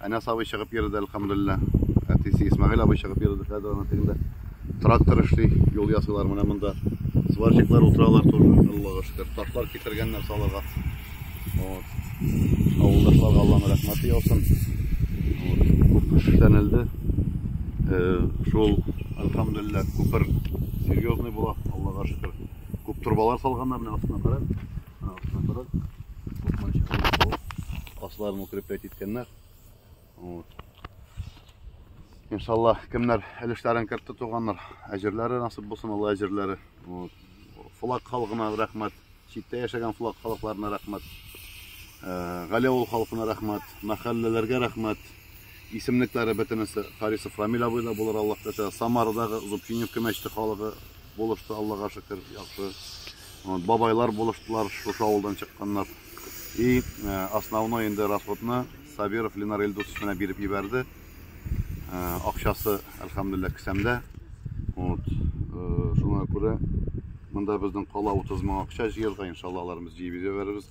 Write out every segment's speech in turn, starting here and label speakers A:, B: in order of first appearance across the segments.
A: Әнәс абый чыгып йөрде, әлхәмдулилла. Әтисе Исмагыйль абый чыгып йөрде, хәзер ана тегендә трактор эшли, юл ясыйлар менә монда. Сварщиклар утыралар тоже, Аллага шөкер. Ташлар китергәннәр салырга. Вот. Авылдашларга Алланың рәхмәте яусын. Вот. Күп кеше эшләнелде. Э, шул, әлхәмдулилла, күпер серьезный була, Аллага шөкер. Күп турбалар салганнар, менә астына карап. Наоборот, купманчы кылып, асларын укреплять иткәннәр. Вот. Иншалла, кемнәр өлешләрен кертте туганнар, әҗерләре насып булсын, Алла әҗерләре. Вот. Флаг халкына рәхмәт, читтә яшәгән флаг халыкларына рәхмәт. Э, Галиавыл халкына рәхмәт, мәхәлләләргә рәхмәт. Исемлекләре бөтенесе Харисов Рамил абый да булыр Аллаһ теләсә. Самарадагы Зубчиневка мәчете халыгы булышты, Аллага шөкер, яхшы. Вот, бабайлар булыштылар, шушы авылдан чыкканнар. И э, основной инде расходны Сабиров Ленар Ильдусович менә биреп ебәрде. Э, акчасы, әлхәмдулилла, кесәмдә. Вот, э, шуңа күрә монда безнең кала 30 мең акча җыерга, иншалла, аларыбыз җыеп җибәрербез.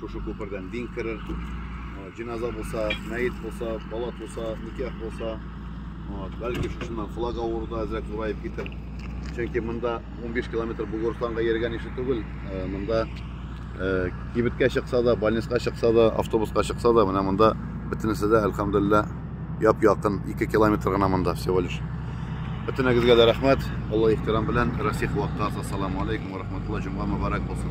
A: Шушы күпердән дин керер, җеназа булса, мәет булса, бала туса, никах булса, бәлки шушыннан флаг авыруда әзрәк зураеп китер. Чөнки монда 15 километр Бугурстанга йөргән ише түгел. Монда кибеткә чыкса да, больницага чыкса да, автобуска чыкса да, менә монда бөтенесе дә әлхәмдулилла яп-якын 2 километр гына монда всего лишь. Бөтенегезгә дә рәхмәт. Алла ихтирам белән Расих вакытта. Ассаламу алейкум ва рахматуллаһи җумга мубарак булсын.